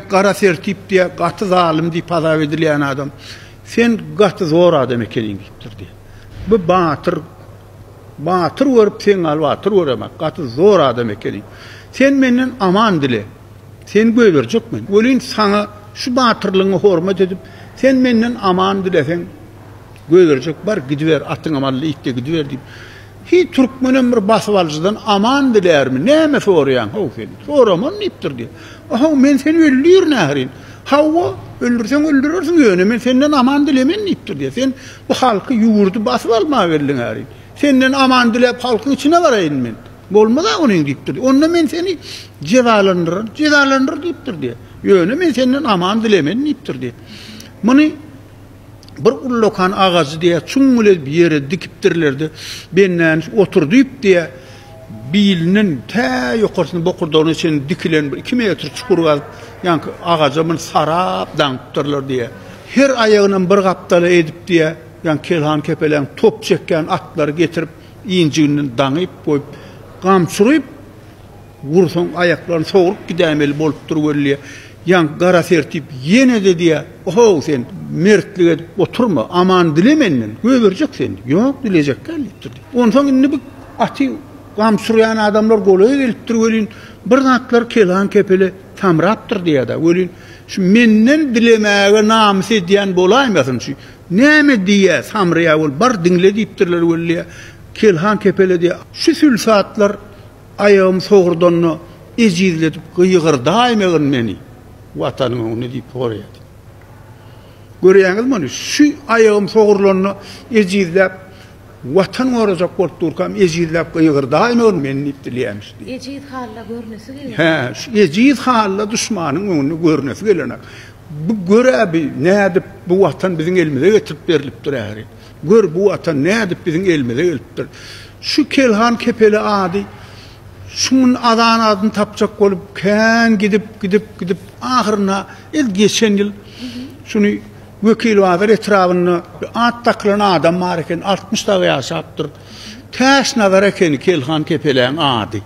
Gara Sertip diýýär, gaty zalym diýip hasap edilýän adam. Sen gaty zor adam ekeniň diýipdir diýýär. Bu batyr batyr görüp sen gal batyr göremek, gaty zor adam ekeniň. Sen menden aman dile. Seni göýberjek men. Welin saňa şu batyrlygyňa hormat edip, sen menden aman dileseň, göýberjek bar, gidiber, atyňa mally it-de gidiber diýip. Hiý, türkmenem bir basybalyjydan aman dilärmi, näme soraýaň, how, sen? Soraman diýipdir, diýip. A-how, men seni öldürin ährin. Hawa, öldürseň öldürersiň, ýöne men senden aman dilemen diýipdir, diýýär. Sen bu halky, ýurdy basyp almaga geldiň ährin. Senden aman diläp, halkyň içine baraýyn men. Bolmaz-a onuň diýipdir. Onda men seni jezalandyrar. Jezalandyr diýipdir, diýýär. Ýöne men senden aman dilemen diýipdir, diýip. Muny. Bir ullakan agajy diýýär, çuň elez bir ýere dikipdirler-de, Bennäniç otur diýip, diýýär, bilinden tä ýokarsyna bokurdagyna çenli dikilen bir iki metr çukur gazyp, ýaňky agaja muny sarap daňypdyrlar diýýär. Her aýagynam bir gapdala edip, diýýär, ýaňky kelhan-kepeläň top çekýän atlary getirip, injiginden daňyp goýup, gamçyryp, Gursaň aýaklaryny sogrup gidäýmeli bolupdyr weli, ýaňky gara Sertip ýene-de diýýär, Ohow, sen mertlik edip oturma, aman dile menden, gögerjek seni. Ýok, dilejek däl diýipdir. Onsoň indi bu aty gam sürýän adamlar golaýa gelipdir welin, bir zatlar kelam-kepele samrapdyr diýýär-de welin, Şu menden dilemäge namys edýän bolaýmasyn, şu näme diýýär, samraýar ol, bar diňle diýipdirler weli, kelam-kepele diýýär, Şu sülsatlar Aýagym sogurdanda ejizledip gygyrdaýmagyn meni Watanyň öňünde diýip soraýardy. Görýäňizmi muny? Şu aýagym sogurlanda ejizläp Watan gorajak bolup durkam ejizläp gygyrdaýmagyn meni diýip dileýämiş diýip. Ejiz halda görnesi gelýär. Hä, şu ejiz halda duşmanyň öňünde görnesi gelenok. Bu gör-ä bi nädip bu Watan biziň elimize getirip berlipdir ähli. Gör, bu watan nädip biziň elimize gelipdir. Şu Kelhan kepeli ady şu gün azan adyny tapjak bolup, kän gidip, gidip, gidip, ahyrynda el geçen ýyl şuny Wekilbazar etrabynda bir at dakylan adam bar eken, altmyş dagy ýaşapdyr. Täşnazar ekeni Kelhan kepeläň ady.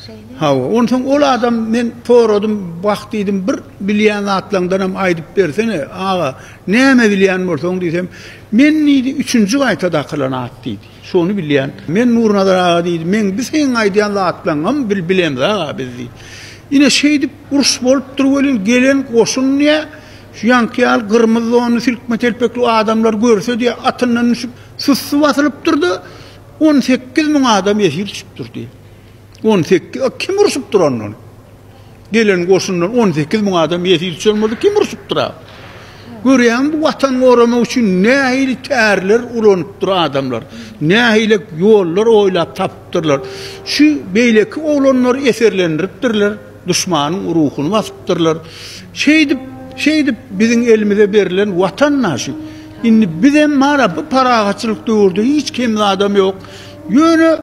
Şeýle. Hawa, onsoň ol adam men soradym, wah diýdim, bir bilýän zatlaňdan hem aýdyp bersene, aga, näme bilýän bolsaň diýsem, men diýdi, üçünji gaýta dakylan at diýdi. Şony bilýän. Men Nurnazar aga diýdi, men bi seň aýdýan zatlaňam bil bilemiz aga biz diýdi. Ine şeýdip uruş bolupdyr welin gelen goşun diýä, şu ýaňky ýaly gyrmyzy donly silkme telpekli adamlar görse diýä atyndan düşüp sussy basylypdyr-da, On sekiz müň adam esir düşüpdir diýip. On sekiz, a kim urşupdyr ondan? Gelen goşundan on sekiz müň adam esir düşen bolsa kim urşupdyr a? Görýäňmi bu watan goramak üçin nähili tärler ulanypdyr adamlar. Nähili ýollar oýlap tapypdyrlar. Şu beýleki oglanlary eserlendiripdirler. Duşmanyň ruhuny basypdyrlar. Şeýdip, şeýdip biziň elimize berlen Watan naşy. Indi bizem mana bu parahatçylyk döwürde hiç kemli adam ýok. Ýöne.